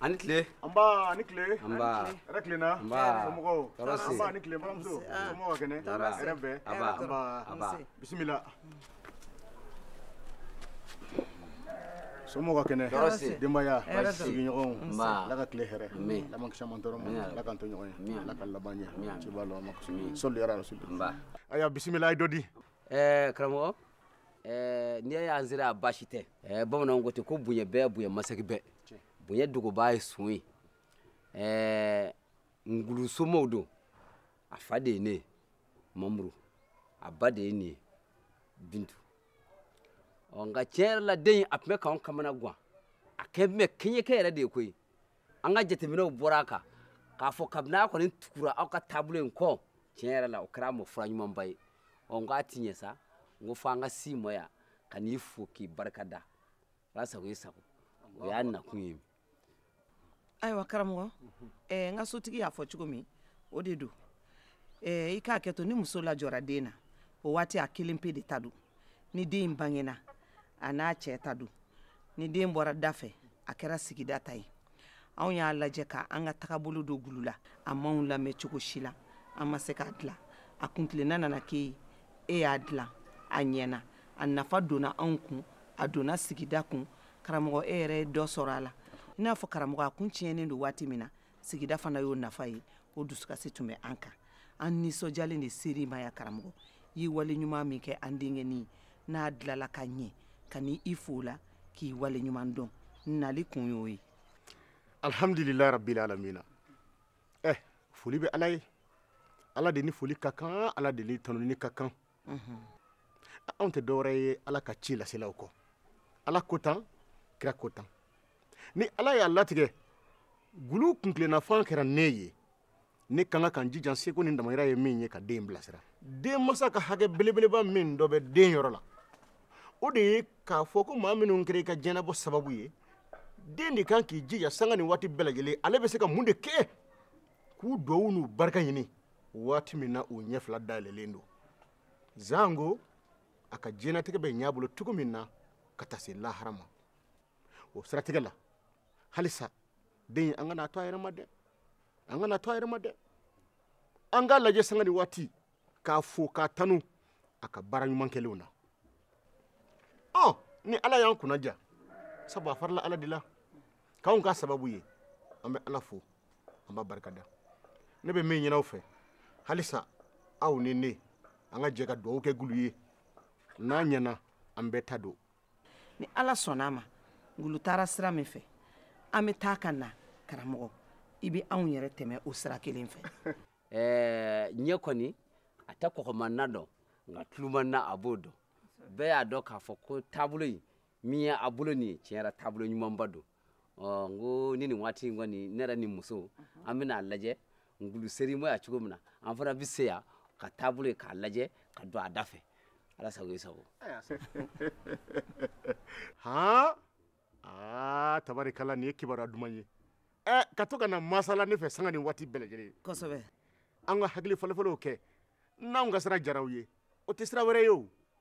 ani tile anba ani tile anba hɛrɛ tilenna anba somɔgɔw tɔɔrɔ si anba ani tile baramuso somɔgɔw ka kɛnɛ hɛrɛ bɛ anba anba anba bisimila somɔgɔ ka kɛnɛ denbaya sigiɲɔgɔnw ala ka tile hɛrɛ ala m'an kisa mantɔɔrɔ ma ala k'an to ɲɔgɔn ye ala ka laban ɲɛ ciba lɔ ma sɔli ala rasul ayiwa bisimila a ye dɔ di karamɔgɔ n'i y'a y'an sera a baasi tɛ bamananw ko ten ko bonya bɛɛ bonya masaki bɛɛ bonya dogobaa ye su ye ngulu somaaw don a fa de ye ne ye mamuru a ba de ye nin ye bintu ɔ nka tiɲɛ yɛrɛ la den in a tun bɛ k'anw kamana gan a kɛ tun bɛ kɛɲɛkɛ yɛrɛ de ye koyi an ka jateminɛw bɔra a kan k'a fɔ kabini a kɔni tugura aw ka taabolo in kɔ tiɲɛ yɛrɛ la o kɛra a ma fura ɲumanba ye ɔ nka tiɲɛ sa n ko fo an ka se i ma yan ka n'i fo k'i barika da ala sago i sago o y'an nakun ye ayiwa karamɔgɔ ɛɛ n ka sotigi y'a fɔ cogo min o de don ɛɛ i k'a kɛ to ni muso lajɔra den na o waati a kelen pe de ta don ni den in bangena a n'a cɛ ta don ni den bɔra da fɛ a kɛra sigida ta ye anw y'a lajɛ ka an ka tagabolo don gulu la a m'anw lamɛn cogo si la an ma se k'a dilan a kuntilenna nana kɛ e ye e y'a dilan a ɲɛna a nafa donna anw kun a donna sigida kun karamɔgɔ e yɛrɛ ye dɔ sɔrɔ a la i n'a fɔ karamɔgɔ a kun tiɲɛnen don waati min na sigida fana y'o nafa ye o dusukasi tun bɛ an kan an nisɔndiyalen de sera i ma yan karamɔgɔ i ye wale ɲuman min kɛ an denkɛnin na a dilanna ka ɲɛ ka na i fo a la k'i wale ɲuman dɔn nali kun y'o ye alhamdulilayi rabbil alamina eh foli bɛ ala ye ala de ni foli ka kan ala de ni tanuni ka kan anw tɛ dɔwɛrɛ ye ala ka ci laselaw kɔ ala ko tan kira ko tan ni ala y'a latigɛ gulu kuntilenna fan kɛra ne ye ne ka kan ka n jija seko ni damayira ye min ye ka den bilasira den masa ka hakɛ belebeleba min dɔ bɛ den yɔrɔ la o de ye k'a fɔ ko maa minnu kɛra i ka diɲɛnabɔ sababu ye den de kan k'i jija sanga ni waati bɛɛ lajɛlen ale bɛ se ka mun de kɛ k'u duwawu n'u barika ɲini waati min na u ɲɛ fila dayɛlɛlen don janko a ka diɲɛnatigɛ bɛ ɲɛ a bolo cogo min na ka taa se lahara ma o siratigɛ la halisa den an kan'a to a yɛrɛ ma dɛ an kan'a to a yɛrɛ ma dɛ an k'a lajɛ sanga ni waati k'a fo k'a tanu a ka baara ɲuman kɛlenw na ɔ ni ala y'an kunnadiya sabu a farala ala de la k'anw ka sababu ye an bɛ ala fo an b'a barika da ne bɛ min ɲin'aw fɛ halisa aw ni ne an ka jɛ ka dugawu kɛ ngulu ye n'a ɲɛna an bɛɛ ta don ni ala sɔnna a ma ngulu taara sira min fɛ an bɛ taa ka na karamɔgɔ i bɛ anw yɛrɛ tɛmɛ o sira kelen fɛ eh, ɲɛ kɔni a tɛ kɔgɔman na dɔn nka tuluman na a b'o dɔn bɛɛ y'a dɔn k'a fɔ ko taabolo in min ye a bolo nin ye tiɲɛ yɛrɛ taabolo ɲumanba don ɔ n ko ni nin waati in kɔni ne yɛrɛ ni muso an bɛna a lajɛ ngulu sera i ma yan cogo min na an fana bɛ se yan ka taabolo ye k'a lajɛ ka don a da fɛ ala sago i sago han aa tabarikala nin ye kibaruya duman ye ɛ ka to ka na masala ne fɛ sanga ni waati bɛɛ lajɛlen kosɛbɛ an ka hakili falenfalenw kɛ n'anw ka sira diyara aw ye o tɛ sira wɛrɛ ye o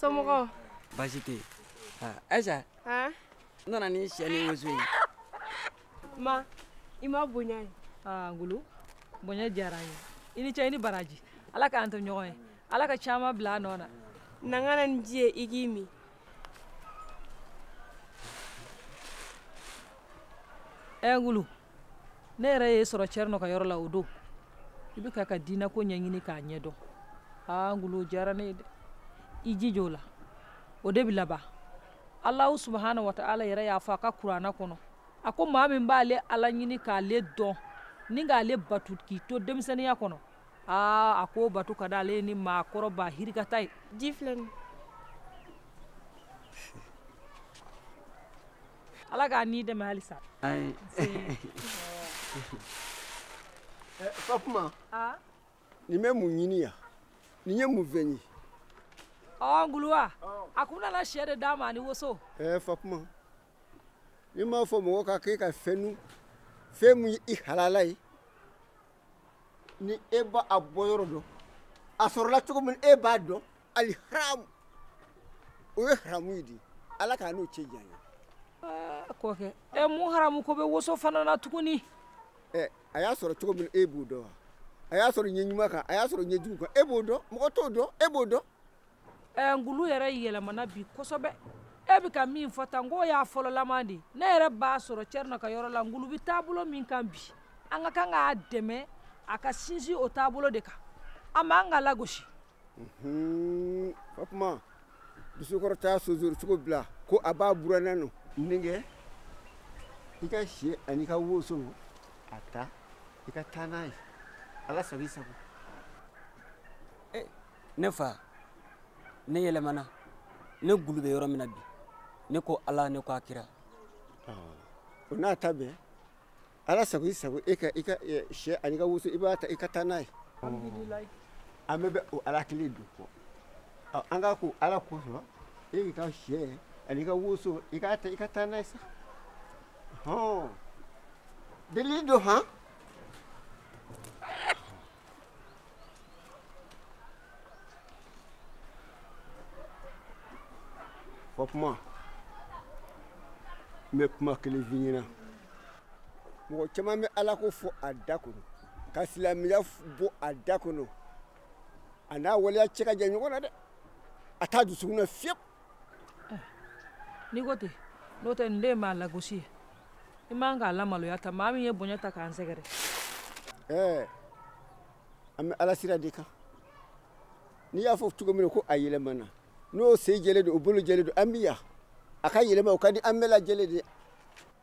somɔgɔ baasi tɛ yen ayisa n nana ni sɛ ni woso ye ma i ma bonya ye ngulu bonya diyara n ye i ni cɛ i ni baraji ala k'an to ɲɔgɔn ye ala ka caman bila a nɔ na na n ka na ni ji ye i k'i min ɛ ngulu ne yɛrɛ y'i sɔrɔ cɛrinɔ ka yɔrɔ la o don i bɛ k'an ka diinako ɲɛɲini k'a ɲɛdɔn aa ngulu o diyara ne ye dɛ i jija o la o de bɛ laban alahu subahana wa taala yɛrɛ y'a fɔ a ka kurana kɔnɔ a ko maa min b'ale ala ɲini k'ale dɔn ni k'ale batu k'i to denmisɛnninya kɔnɔ aa a k'o batu ka d'ale ye ni maakɔrɔ ba yirika ta ye ji filɛ nin ala k'a n'i dɛmɛ halisa fatuma nin bɛ mun ɲini yan nin ye mun fɛn ye ɔ ngulu wa a kun nana sɛ de d'an ma ani woso ɛɛ fatuma ne m'a fɔ mɔgɔ ka kɛ ka fɛn dun fɛn min ye i halala ye ni e b'a bɔyɔrɔ dɔn a sɔrɔla cogo min e b'a dɔn ali haramu o ye haramu ye dɛ ala k'an n'o cɛ janya kɔkɛ ɛ mun haramu ko bɛ woso fana na tuguni ɛ a y'a sɔrɔ cogo min e b'o dɔn wa a y'a sɔrɔ ɲɛ ɲuman kan a y'a sɔrɔ ɲɛ jugu kan e b'o dɔn mɔgɔ t'o dɔn e b'o dɔn ɛ ngulu yɛrɛ yɛlɛmana bi kosɛbɛ e bɛ ka min fɔ tan n k'o y'a fɔlɔlama de ne yɛrɛ b'a sɔrɔ cɛrinɔ ka yɔrɔ la ngulu bɛ taabolo min kan bi an ka kan k'a dɛmɛ a ka sinsin o taabolo de kan an man kan k'a lagosi fatuma dusukɔrɔ t'a sonsori cogo bila ko a b'a buranna n denkɛ i ka sɛ ani ka woso a ta i ka taa n'a ye ala sago i sago eh, ne fa ne yɛlɛmana ne gulu bɛ yɔrɔ min na bi ne ko ala ne ko a kira o n'a ta bɛɛ ala sago i sago e ka i ka sɛ ani ka woso i b'a ta i ka taa n'a ye an bɛɛ bɛ o ala kelen de kɔ an k'a ko ala kosɔn e k'i ka sɛ ani ka woso i k'a ta i ka taa n'a ye sa hɔn delili don han fatuma n bɛ kuma kelen f'i ɲɛna mɔgɔ caman bɛ ala ko fɔ a da kɔnɔ ka silamɛya bɔ a da kɔnɔ a n'a waleya cɛ ka jan ɲɔgɔn na dɛ a t'a dusukun na fiyewu n'i ko ten n'o tɛ nin de ye maa lagosi ye i man k'a lamaloya tan maa min ye bonya ta k'an sɛgɛrɛ ɛɛ an bɛ ala sira de kan n'i y'a fɔ cogo min na ko a yɛlɛmana n'o sen jɛlen don o bolo jɛlen don an bi yan a ka yɛlɛma o ka di an bɛɛ lajɛlen de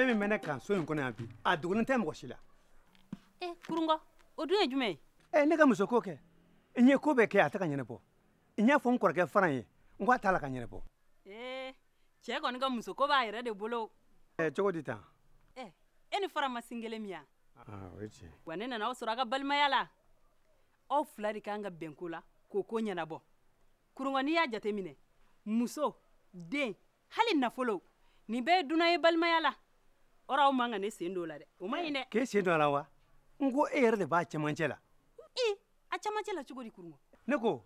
fɛn min bɛ ne kan so in kɔnɔ yan bi a dogolen tɛ mɔgɔ si la. ee eh, kurungɔ o dun ye jumɛn ye. ɛ ne ka muso ko kɛ n ye ko bɛɛ kɛ a tɛ ka ɲɛnabɔ n y'a fɔ n kɔrɔkɛ faran ye n ko a t'a la ka ɲɛnabɔ ee eh, cɛ kɔni ka muso ko b'a yɛrɛ de bolo ɛ eh, cogo di tan ɛ eh, e ni faran ma sin kelen min yan ah, o ye tiɲɛ wa ne nana aw sɔrɔ a ka balimaya la aw fila de kan ka bɛn ko la k'o ko ɲɛnabɔ kurungɔ n'i y'a jateminɛ muso den hali nafolo nin bɛɛ ye dunan ye balimaya la ɔrɔ aw man ka ne sen don o la dɛ o man ɲi dɛ k'e sen don a la wa n ko e yɛrɛ de b'a cɛmancɛ la i a cɛmancɛ la cogo di kurungɔ ne ko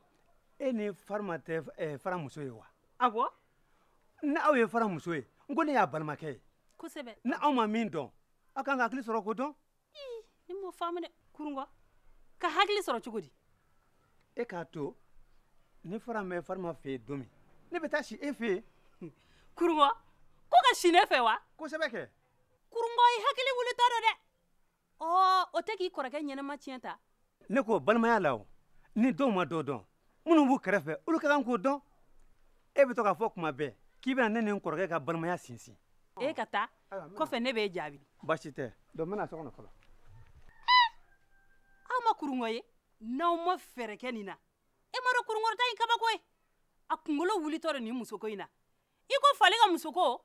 e ni farima tɛ eh, faran muso ye wa awɔ ni aw ye faran muso ye n ko ne y'a balimakɛ ye kosɛbɛ ni aw ma min dɔn aw kan ka hakili sɔrɔ k'o dɔn ne m'o faamu dɛ kurungɔ ka hakili sɔrɔ cogo di e k'a to ni faran bɛ farima fɛ yen don min ne bɛ taa si e fɛ yen kurungɔ ko ka si ne fɛ wa kosɛbɛ kɛ kurungɔ i hakili wulitɔ don dɛ ɔ o tɛ k'i kɔrɔkɛ ɲɛnama tiɲɛ ta ne k'o balimaya la o ni dɔw ma dɔ dɔn minnu b'u kɛrɛfɛ olu ka kan k'o dɔn e bɛ to k'a fɔ kuma bɛɛ k'i bɛna ne ni n kɔrɔkɛ ka balimaya sinsin e ka taa kɔfɛ ne b'e jaabi baasi tɛ donc n bɛna so kɔnɔ fɔlɔ aw ma kurungɔ ye n'aw ma fɛɛrɛ kɛ nin na e ma dɔn kurungɔrɔta in kabako ye a kunkolo wulitɔ don nin musoko in na i ko fali ka musoko